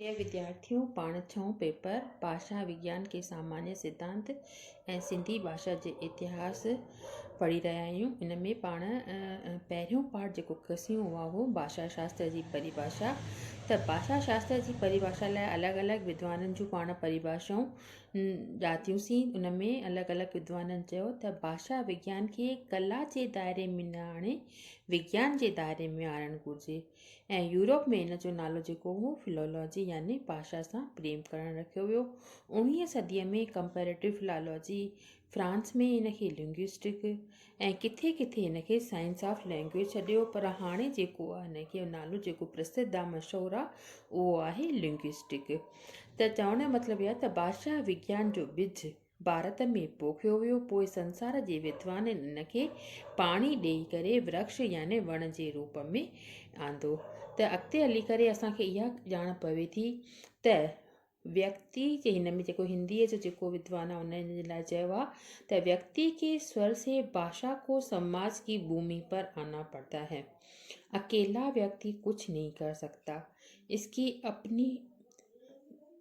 هي وديارٿيون پاڻ ڇهون پيپر، ڀاشا وگيان کي سامانيه سڌانت ۽ سنڌي ڀاشا جي اتهاس پڙهي رهيا آهيون. ان ۾ پاڻ پهريون پارٽ جيڪو کسيون اها هو ڀاشا شاستر جي پريڀاشا. ته ڀاشا شاستر جي پريڀاشا لاء الڳ الڳ ودوانن جون پاڻ پريڀاشائون ڄاتيونسين. ان ۾ الڳ الڳ ودوانن چيو ته ڀاشا وگيان کي ڪلا جي دائري ۾ نه آڻي وگيان جي دائري ۾ آڻڻ گهرجي. ۽ يورپ ۾ ان جو نالو جيڪو هو فلولاجي يعني باشا سان پريم ڪرڻ رکيو ويو. اوڻويهين صديء ۾ ڪمپيريٽو فلالوجي، فرانس ۾ ان کي لنگوسٽڪ ۽ ڪٿي ڪٿي ان کي سائنس آف لينگويج سڏيو پر هاڻي جيڪو آ ان کي نالو جيڪو پرسڌ آ مشهور آ اهو آهي لنگوسٽڪ ته چوڻ جو مطلب اهي آ ته باشا وگيان جو ٻج ڀارت ۾ پوکيو ويو، پوء سنسار جي ودوانن ان کي پاڻي ڏيئي ڪري ورڪش يعني وڻ جي روپ ۾ آندو ته اڳتي هلي ڪري اسان کي اها ڄاڻ پوي ٿي ته ويڪتي جي هن ۾ جيڪو هنديء جو جيڪو ودوان آهي ان جي لاء چيو آهي ته ويڪتي کي سور سي باشا کو سماج جي ڀومي پر آنا پڙتا هي اڪيلا ويڪتي ڪجهه نهي ڪر سگهتا اسڪي اپني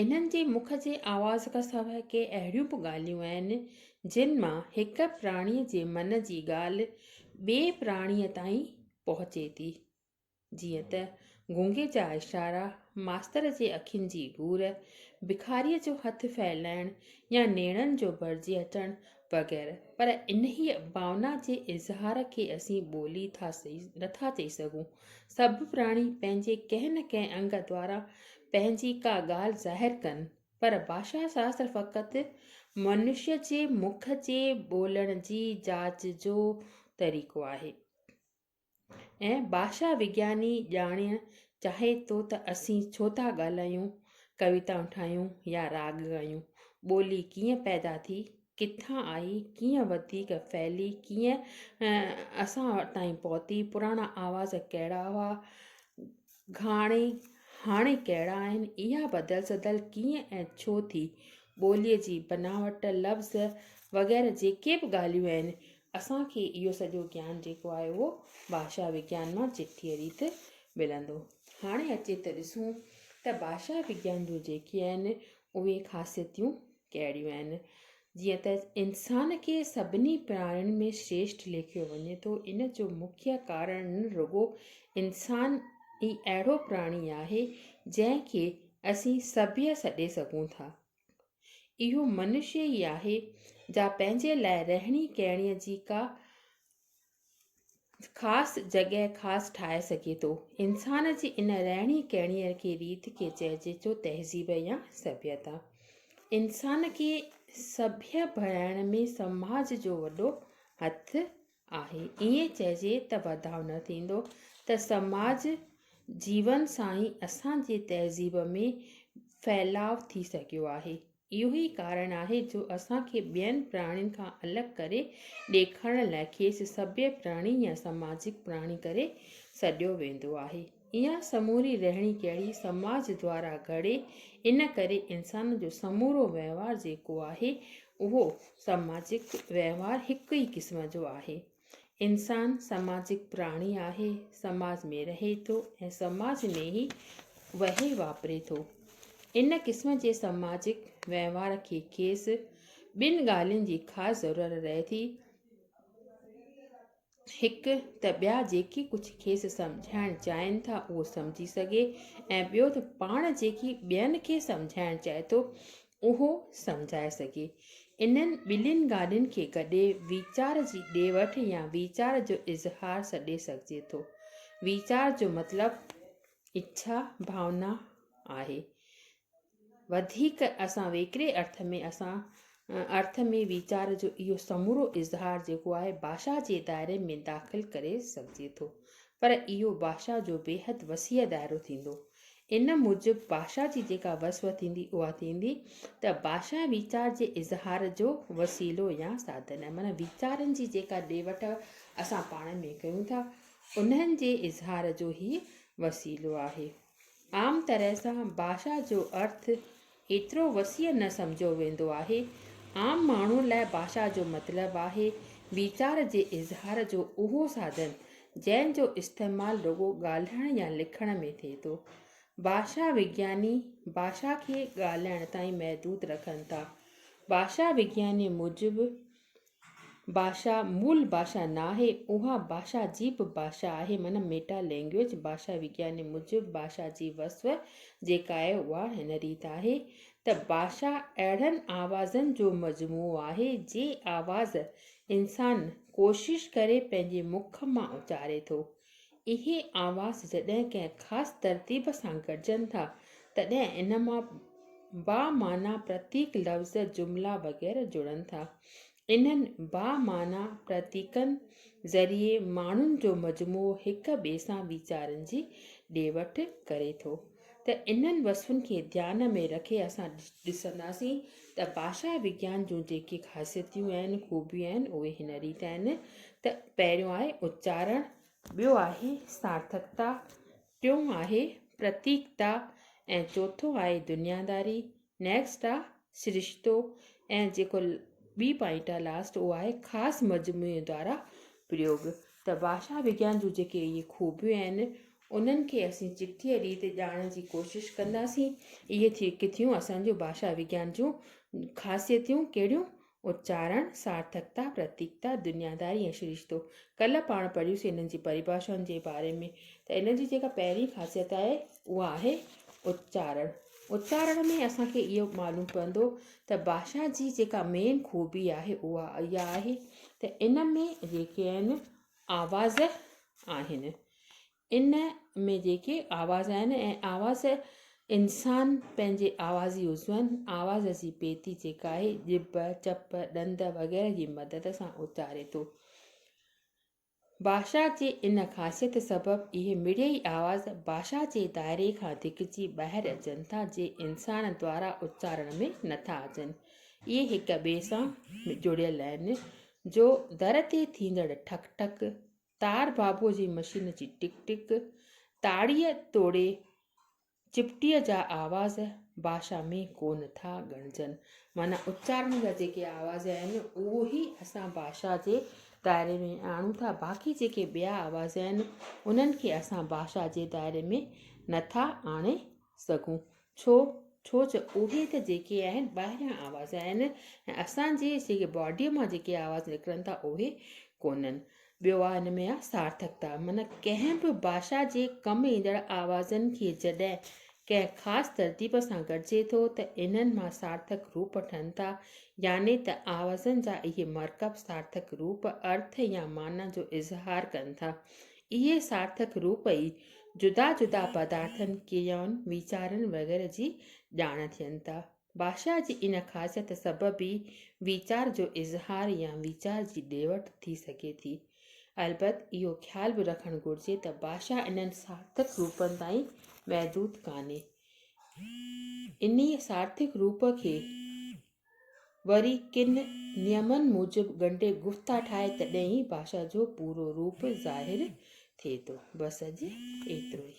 انهن جي مک جي آواز کان سواء ڪي اهڙيون به ڳالهيون آهن، جن مان هڪ پراڻيء جي من جي ڳالهه ٻئي پراڻيء تائين پهچي ٿي. جيئن ته گونگي جا اشارا، ماستر جي اکين جي گهور، بکاريء جو هٿ ڦهلائڻ يا نيڻن جو ڀرجي اچڻ وغيره پر انهيء ڀاونا جي اظهار کي اسين ٻولي ٿا نٿا چئي سگهون. سڀ پراڻي پنهنجي ڪنهن نه ڪنهن انگ دوارا پنهنجي ڪا ڳالهه ظاهر ڪن پر ڀاشا شاستر فقط منشيء جي مک جي ٻولڻ جي جاچ جو طريقو آهي. ۽ ڀاشا وگياني ڄاڻڻ چاهي ٿو ته اسين ڇو ٿا ڳالهايون، ڪويتائون ٺاهيون يا راڳ ڳايون؟ ٻولي ڪيئن پيدا ٿي، ڪٿان آئي، ڪيئن وڌيڪ ڦهلي، ڪيئن اسان تائين پهتي، پراڻا آواز ڪهڙا هئا، گهاڻي، هاڻي ڪهڙا آهن، اها بدل سدل ڪيئن ۽ ڇو ٿي، ٻوليء جي بناوٽ، لفظ وغيره جيڪي به ڳالهيون آهن، اسان کي اهو سڄو گيان جيڪو آهي اهو ڀاشا وگيان مان چٽيء ريت ملندو. هاڻي اچي ته ڏسون ته ڀاشا وگيان جون جيڪي آهن اهي خاصيتيون ڪهڙيون آهن؟ جيئن ته انسان کي سڀني پراڻين ۾ شريشٽ ليکيو وڃي ٿو، ان جو مکيه ڪارڻ رڳو انسان ئي اهڙو پراڻي آهي، جنهن کي اسين سڀيء سڏي سگهون ٿا. اهو منشي ئي آهي، جا پنهنجي لاء رهڻي ڪهڻيء جي ڪا خاص جڳهه خاص ٺاهي سگهي ٿو. انسان جي ان رهڻي ڪهڻيء کي ريت کي چئجي ٿو تهذيب يا سڀيتا. انسان کي سڀيء بڻائڻ ۾ سماج جو وڏو هٿ آهي. ائين چئجي ته بداو نه ٿيندو ته سماج جيون سان ئي اسان جي تهذيب ۾ ڦهلاء ٿي سگهيو آهي. اهو ئي ڪارڻ آهي جو اسان کي ٻين پراڻين کان الڳ ڪري ڏيکارڻ لاء کيس سڀيئي پراڻي يا سماجڪ پراڻي ڪري سڏيو ويندو آهي. اها سموري رهڻي ڪهڙي سماج دوارا گهڙي ان ڪري انسان جو سمورو وهنوار جيڪو آهي اهو سماجڪ وهنوار هڪ ئي قسم جو آهي. انسان سماجڪ پراڻي آهي، سماج ۾ رهي ٿو ۽ سماج ۾ ئي وهي واپري ٿو. ان قسم جي سماجڪ وهنوار کي کيس ٻن ڳالهين جي خاص ضرورت رهي ٿي. هڪ ته ٻيا جيڪي ڪجهه کيس سمجهائڻ چاهين ٿا اهو سمجهي سگهي ۽ ٻيو ته پاڻ جيڪي ٻين کي سمجهائڻ چاهي ٿو اهو سمجهائي سگهي. انهن ٻنهين ڳالهين کي گڏي ويچار جي ڏي وٺ يا ويچار جو اظهار سڏي سگهجي ٿو. ويچار جو مطلب اڇا، ڀاونا، آهي. وڌيڪ اسان ويڪري ارٿ ۾ اسان ارٿ ۾ ويچار جو اهو سمورو اظهار جيڪو آهي ڀاشا جي دائري ۾ داخل ڪري سگهجي ٿو. پر اهو ڀاشا جو بيحد وسيع دائرو ٿيندو. ان موجب ڀاشا جي جيڪا وصف ٿيندي اها ٿيندي ته ڀاشا ويچار جي اظهار جو وسيلو يا ساڌن آهي معنيٰ ويچارن جي جيڪا ڏي وٺ اسان پاڻ ۾ ڪيون ٿا انهن جي اظهار جو هي وسيلو آهي عام طرح سان ڀاشا جو ارٿ ايترو وسيع نه سمجهيو ويندو آهي. عام ماڻهوء لاء ڀاشا جو مطلب آهي، ويچار جي اظهار جو اهو ساڌن، جنهن جو استعمال رڳو ڳالهائڻ يا لکڻ ۾ ٿئي ٿو. ڀاشا وگياني، ڀاشا کي ڳالهائڻ تائين محدود رکن ٿا. ڀاشا وگيانيء موجب، ڀاشا مول ڀاشا ناهي، اها ڀاشا جي به ڀاشا آهي، معنيٰ ميٽا لينگويج. ڀاشا وگياني موجب ڀاشا جي وصف جيڪا آهي اها هن ريت آهي ته ڀاشا اهڙن آوازن جو مجموعو آهي جي آواز انسان ڪوشش ڪري پنهنجي مک مان اچاري ٿو. اهي آواز جڏهن ڪنهن خاص ترتيب سان گڏجن ٿا، تڏهن ان مان بامعنيٰ پرتيڪ، لفظ، جملا وغيره جڙن ٿا. انهن بامعنيٰ پرتيڪن ذريعي ماڻهن جو مجموعو هڪ ٻئي سان ويچارن جي ڏي وٺ ڪري ٿو. ته انهن وصفن کي ڌيان ۾ رکي اسان ڏسنداسين ته ڀاشا وگيان جون جيڪي خاصيتيون آهن، خوبيون آهن، اهي هن ريت آهن ته پهريون آهي اچارڻ، ٻيو آهي سارٿڪتا، ٽيون آهي پرتيڪتا ۽ چوٿون آهي دنياداري نيڪسٽ آ سرشتو ۽ جيڪو ٻي پوائنٽ آ لاسٽ اهو آهي خاص مجموعي دوارا پريوگ ته ڀاشا وگيان جون جيڪي اهي خوبيون آهن انهن کي اسين چٽيء ريت ڄاڻڻ جي ڪوشش ڪنداسين اهي ٿي ڪٿيون اسان جون ڀاشا وگيان جون خاصيتيون ڪهڙيون اچارڻ، سارٿڪتا، پرتيڪتا، دنياداري ۽ سرشتو. ڪلهه پاڻ پڙهيوسين انهن جي پريڀاشائن جي باري ۾ ته ان جي جيڪا پهرين خاصيت آهي اها آهي اچارڻ. اچارڻ ۾ اسان کي اهو معلوم پوندو ته ڀاشا جي جيڪا مين خوبي آهي اها اها آهي ته ان ۾ جيڪي آهن آواز آهن ان ۾ جيڪي آواز آهن ۽ آواز انسان پنهنجي آوازي عضون، آواز جي پيتي جيڪا آهي ڄڀ، چپ، ڏند وغيره جي مدد سان اچاري ٿو. ڀاشا جي ان خاصيت سبب اهي مڙيئي آواز ڀاشا جي دائري کان ڌڪجي ٻاهر اچن ٿا جي انسان دوارا اچارڻ ۾ نٿا اچن. اهي هڪ ٻئي سان جڙيل آهن جو در تي ٿيندڙ ٺڪ ٺڪ، تار بابو جي مشين جي ٽڪ ٽڪ، تاڙيء توڙي چپٽيء جا آواز ڀاشا ۾ ڪونه ٿا ڳڻجن. معنيٰ اچارڻ جا جيڪي آواز آهن، اهو ئي اسان ڀاشا جي دائري ۾ آڻون ٿا. باقي جيڪي ٻيا آواز آهن، انهن کي اسان ڀاشا جي دائري ۾ نه ٿا آڻي سگهون ڇو ڇو جو اهي ته جيڪي آهن ٻاهريان آواز آهن ۽ اسان جي جيڪي باڊيء مان جيڪي آواز نڪرن ٿا اهي ڪونهن ٻيو آ ان ۾ آ سارٿڪتا من ڪنهن به باشا جي ڪم ايندڙ آوازن کي جڏهن ڪنهن خاص ترتيب سان گڏجي ٿو ته انهن مان سارٿڪ روپ ٺهن ٿا يعني ته آوازن جا اهي مرڪب سارٿڪ روپ ارٿ يا معنيٰ جو اظهار ڪن ٿا اهي سارٿڪ روپ ئي جدا جدا پدارٿن، ڪريائن، ويچارن وغيره جي ڄاڻ ٿين ٿا. ڀاشا جي ان خاصيت سبب ئي ويچار جو اظهار يا ويچار جي ڏي وٺ ٿي سگهي ٿي. البت اهو خيال به رکڻ گهرجي ته ڀاشا انهن سارٿڪ روپن تائين محدود ڪانهي. انهيء سارٿڪ روپ کي وري ڪن نيمن موجب ڳنڍي گفتا ٺاهي تڏهن ئي ڀاشا جو پورو روپ ظاهر ٿئي ٿو. بس اڄ ايترو ئي.